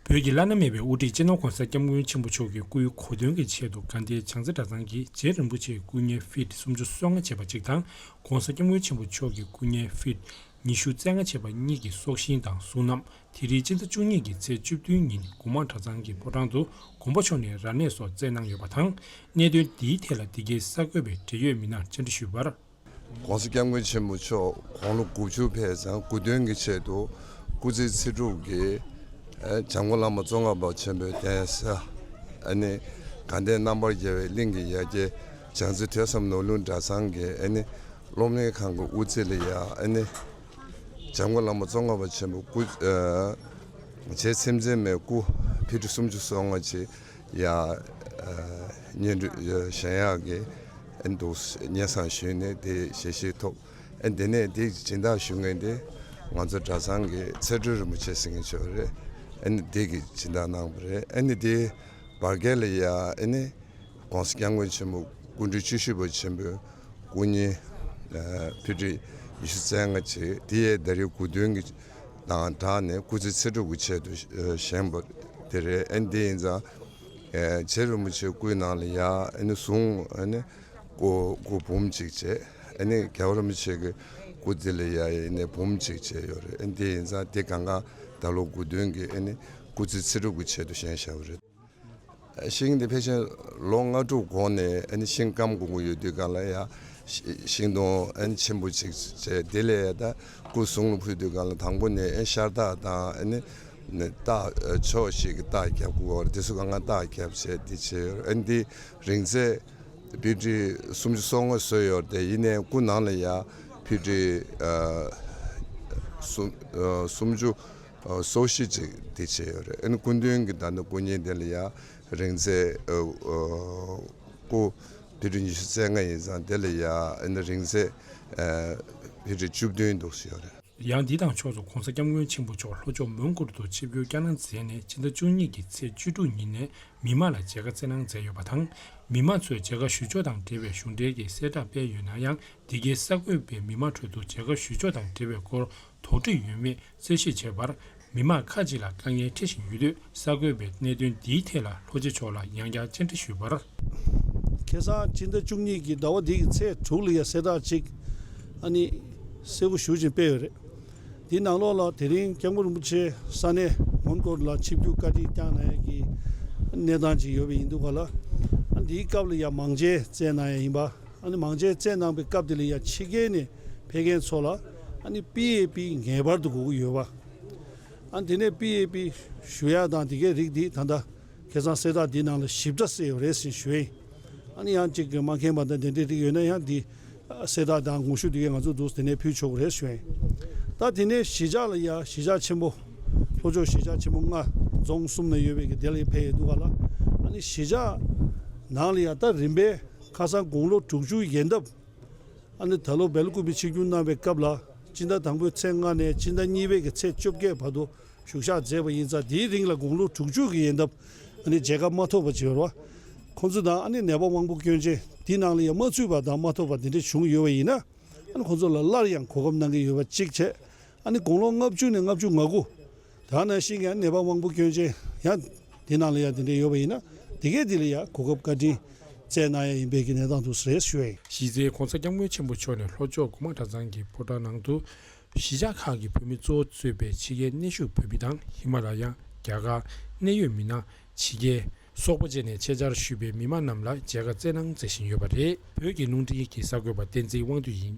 བོད་ཀྱི་བླ་ན་མེད་པའི་དབུ་ཁྲིད་སྤྱི་ནོར ྋགོང་ས ྋསྐྱབས་མགོན་ཆེན་པོ་མཆོག་གི་སྐུའི་གོ་སྟོན་གྱི་ཆེད་དུ་དགའ་ལྡན་བྱང་རྩེ་གྲྭ་ཚང་གིས་རྗེ་རིན་པོ་ཆེའི་སྐུ་བརྙན་ཧྥེད་སུམ་ཅུ་སོ་ལྔ་ཆེ་བ་གཅིག་དང ྋགོང་ས ྋསྐྱབས་མགོན་ཆེན་པོ་མཆོག་གི་སྐུ་བརྙན་ཧྥེད་ཉི་ཤུ་རྩེ་ལྔ་ཆེ་བ་གཉིས་ཀྱི་སྲོག་ཤིང་དང་གཟུངས་རྣམས་དེ་རིང་སྤྱི་ཟླ་བཅུ་གཉིས་ཀྱི་ཚེས་བཅུ་བདུན་ཉིན་དགུ་མང་གྲྭ་ཚང་གི་ཕོ་བྲང་དུ་དགོངས་པ་མཆོག་ནས་ར་གནས་སོགས་བསྩལ་གནང་ཡོད་པ་དང་གནད་དོན་འདིའི་ཐད་ལ་འདི་གའི་གསར་འགོད་པས་འབྲེལ་ཡོད་མི་སྣར་བཅར་འདྲི་ཞུས་པར། ྋགོང་ས ྋསྐྱབས་མགོན་ཆེན་པོ་མཆོག་དགུང་ལོ་དགུ་བཅུ་ཕེབས་ཚང་དགུ་བདུན་གྱི་ཆེད་དུ་སྐུ་ཚེ་ཚེ་དྲུག་གི་བྱམས་མགོན་བླ་མ་གཙོ་མཁར་འབབ་ཆེན་པོའི་གདན་ས ྋགང་ལྡན་རྣམ་པར་རྒྱལ་བའི་གླིང་གི་ཡ་གྱལ་བྱང་རྩེ་ཐོས་བསམ་ནོར་ལུང་གྲྭ་ཚང་གི་སློབ་གླིང་ཁང་གི་དབུ་རྩེ་ལ་ཡང་བྱམས་མགོན་བླ་མ་གཙོ་མཁར་འབབ་ཆེན་པོའི་སྐུ་བྱད་ཚེམས་མཛེས་མའི་སྐུ་ཕི་ཁྲི་སུམ་ཅུ་སོ་ལྔ་ཆེ་ཡང་སྙན་སྒྲོན་གཞན་ཡང་གི། འདུག་སྙན་བཟང་ཞུས་ནས་དེ་ཞལ་བཞེས་ཐོབ། དེ་ནས་དེ་སྦྱིན་བདག་ཞུ་ངེས་ཏེ། ང་ཚོ་གྲྭ་ཚང་གི་ཚེ་སྒྲོན་རིན་པོ་ཆེ་ཟེར་མཁན་ཆོས་རེད། དེ་གི་སྦྱིན་བདག་གནང་བ་རེད། དེ་བར་བརྒལ་ལ་ཡ། ྋགོང་ས ྋསྐྱབས་མགོན་ཆེན་པོ་སྐུ་མགྲོན་བཅུ་བཞི་པ་ཆེན་པོའི་སྐུ་བརྙན། ཕུད་དཀྲིས་ཉི་ཤུ་རྩེ་ལྔ་བཅས་དེ་ཡས་ཟླ་རེའི་དགུ་སྟོན་གྱི་དང་སྦྲགས་ནས་སྐུ་ཚེ་ཚེ་སྒྲུབ་ཀྱི་ཆེད་དུ་བཞེངས་པ་དེ་རེད། དེ་ཡིན་ཙང། རྗེ་རིན་པོ་ཆེའི་སྐུའི་ནང་ལ་ཡང་གཟུངས་སྐུ་འབུམ་གཅིག་བཅས་རྒྱལ་བ་རིན་པོ་ཆེ་གི་སྐུ་དེ་ལ་ཡང་འབུམ་གཅིག་བཅས་ཡོད་རེད་དེ་ཡིན་ཙང་དེ་གང་ག་ད་ལོ་དགུ་བདུན་གྱི་སྐུ་ཚེ་ཚེ་དྲུག་གི་ཆེད་དུ་བཞེངས་བཞག་པ་རེད། ཤིང་དེ་ཕལ་ཆེར་ལོ་ལྔ་དྲུག་གོང་ནས་ཤིང་སྐམ་གོང་གི་ཡོད་དུས་གང་ལ་ཡང་ཤིང་སྡོང་ཆེན་པོ་གཅིག་བཅས་དེ་ལས་ད་སྐུ་གསུང་ལོ་ཕུད་དུས་གང་ལ་དང་པོ་ནས་ཤར་རྟགས་དང། རྟགས་ཕྱོགས་ཞིག་གི་རྟགས་བརྒྱབ་དགོས་པར་དེ་སུ་གང་ང་རྟགས་བརྒྱབ་བྱས་ཏེ་བྱས་ཡོད། འདི་རིང་ཚེ་བི་ཀྲི་སུམ་ཅུ་སོ་ལྔ་བཟོས་ཡོད་དེ་ཡིན་ནའི་སྐུ་ནང་ལ་ཡང་བི་ཀྲི་སུམ་ཅུ་སོ་བཞི་ཅིག་དེ་བྱས་ཡོད། སྐུ་མདུན་གྱི་ཟླ་ཟླ་སྐུ་བརྙན་དེ་ལ་ཡང། རིང་བརྩེ། སྐུ། བྷི་དྲི་ཉི་ཤུ་རྩེ་ལྔ་ཡིན་ཙང་དེ་ལས་ཡག། རིང་བརྩེ། བྷི་དྲི་བཅུ་བདུན་འདུག་ཟེར་ཡོད་རེད། ཡང་འདི་དང་ཕྱོགས་སུ ྋགོང་ས ྋསྐྱབས་མགོན་ཆེན་པོ་མཆོག་ལྷོ་ཕྱོགས་མོན་གྷོར་དུ་ཆིབས་བསྒྱུར་བསྐྱར་གནང་མཛད་ནས་སྤྱི་ཟླ་བཅུ་གཉིས་ཀྱི་ཚེས་བཅུ་དྲུག་ཉིན་ནས་མི་མང་ལ་མཇལ་ཁ་བསྩལ་གནང་མཛད་ཡོད་པ་དང། མི་དམངས་ཚོས་མཇལ་ཁ་ཞུ་ཕྱོགས་དང་འབྲེལ་བའི་གཞུང་འབྲེལ་གྱི་གསལ་བསྒྲགས་སྤེལ་ཡོད་ན་ཡང་འདི་གའི་གསར་འགོད་པས་མི་མང་ཁྲོད་དུ་མཇལ་ཁ་ཞུ་ཕྱོགས་དང་འབྲེལ་བའི་སྐོར་དོགས་འདྲི་ཡོད་མེད་རྩད་ཞིབ་བྱས་པར་མི་དམངས་ཁག་ཅིག་ལ་དཀའ་ངལ་འཕྲད་བཞིན་ཡོད་དུས་གསར་འགོད་པས་གནད་དོན་འདིའི་ཐད་ལ་ལྷོ་སྤྱི་ཚོགས་ལ་ཡང་བསྐྱར་བཅར་འདྲི་ཞུས་པར། ཁེ་བཟང་སྤྱི་ཟླ་བཅུ་གཉིས་ཀྱི་ཟླ་བ་འདིའི་ཚེས་དྲུག་ལ་ཡང་གསལ་བསྒྲགས་གཅིག་ཨ་ནི་གསལ་བོ་ཞུ་བཞིན་སྤེལ་ཡོད་རེད། དེའི་ནང་ལོགས་ལ་དེ་རིང་སྐྱབས་མགོན་རིན་པོ་ཆེ་ས་གནས་མོན་གྷོ་ལ་ཆིབས་བསྒྱུར་བཀའ་དྲིན་བསྐྱངས་གནང་ཡས་ཀྱི་གནས་སྟངས་ཅིག་ཡོད་པ་ཡིན་འདུག་ག་ལ་འདིའི་སྐབས་ལ་ཡང་མང་ཇའི་རྩད་གནང་ཡས་ཡིན་པ། མང་ཆེ་བརྩད་གནང་པའི་སྐབས་དེ་ལ་ཡང་ཕྱི་རྒྱལ་ནས་ཕེབས་མཁན་ཚོ་ལ PAP ངེས་པར་དུ་དགོས་ཀྱི་ཡོད་པ། དེ་ནས PAP ཞུ་ཡག་དང་དེ་གའི་རིགས་འདི་ད་ལྟ་ཁེ་བཟང་སེ་ད་འདི་ནང་ལ་ཞིབ་ཕྲ་གསལ་ཡོད་རེད་ཟེར་ཞུ་ཡིན། ཡང་གཅིག་གིས་མ་ཁེངས་པ་དང་དེ་འདྲའི་རིགས་ཡོད་ན་ཡང་འདི་སེ་ད་དང་དགོངས་ཞུ་དེ་གའི་ང་ཚོ་འདུག་དེ་ནས་ཕུལ་ཆོག་གི་རེད་ཟེར་ཡིན། ད་དེ་ནས་གཞིས་ཆགས་ལ་ཡང་གཞིས་ཆགས་ཆེན་པོ་ལྷོ་ཕྱོགས་གཞིས་ཆགས་ཆེན་པོ་ལྔ་རྫོང་གསུམ་ན་ཡོད་པའི་དེ་ལ་ཡང་ཕེབས་ཡོད་འདུག་ག་ལ། གཞིས་ཆགས་ནང་ལ་ཡང་ད་རིམ་པས་ཁ་སང་དགུང་ལོ་དྲུག་ཅུ་ཡན་འདབ་ཨ་ནེ་ད་ལོ་བལ་སྐུ་བའི་ཆིག་རྒྱུན་གནང་བའི་སྐབས་ལ་སྤྱི་ཟླ་དང་པོའི་ཚེས་ལྔ་ནས་སྤྱི་ཟླ་གཉིས་པའི་གི་ཚེས་བཅོ་བརྒྱད་བར་དུ་བཞུགས་ཤག་མཛད་པ་ཡིན་ཙང་དེའི་རིང་ལ་དགུང་ལོ་དྲུག་ཅུ་གི་ཡན་འདབ་ཨ་ནེ་མཇལ་ཁ་མ་ཐོབ་པར་བྱེར་བ། ཁོང་ཚོ་དང་ཨ་ནེ་ནད་པ་དབང་པོ་སྐྱོན་ཅན་དེའི་ནང་ལ་ཡང་མ་ཚུད་པ་དང་མ་ཐོབ་པ་དེ་འདྲ་བྱུང་ཡོད་པ་ཡིན་ན་ཁོང་ཚོ་ལ་སླར་ཡང་གོ་སྐབས་གནང་གི་ཡོད་པ་གཅིག་བྱས་ཨ་ནེ་དགུང་ལོ་ལྔ་བཅུ་ནས་ལྔ་བཅུ་ང་དགུ། ད་ནང་བཞིན་ཀྱང་ནད་པ་དབང་པོ་སྐྱོན་ཅན་ཡང་དེ་ནང་ལ་ཡང་དེ་འདྲ་ཡོད་པ་ཡིན་ན་དེ་གས་དེ་ལ་ཡང་གོ་སྐབས་བཀའ་དྲིན་བསྩལ་གནང་ཡ་ཡིན་པས་ཀྱི་ནས་དང་དུ་ཟེར་ཞུ་བས། གཞིས་རྩེའི ྋགོང་ས ྋསྐྱབས་མགོན་ཆེན་པོ་མཆོག་ནས་ལྷོ་ཕྱོགས་དགུ་མ་གྲྭ་ཚང་གི་ཕོ་བྲང་ནང་དུ། གཞིས་ཆགས་ཁག་གི་བོད་མི་གཙོ་བོ་གཙོས་པའི་ཕྱི་རྒྱལ་གནས་བཞུགས་བོད་མི་དང་ཧི་མ་ར་ཡ། རྒྱ་གར། གནད་ཡོད་མི་སྣ། ཕྱི་རྒྱལ། སོག་པོ་བཅས་ནས་ཆེད་བཅར་ཞུས་པའི་མི་མང་རྣམས་ལ་མཇལ་ཁ་བསྩལ་གནང་མཛད་བཞིན་ཡོད་པ་རེད། བོད་ཀྱི་རླུང་འཕྲིན་གྱི་གསར་འགོད་པ་བསྟན་འཛིན་དབང་འདུས་ཡིན།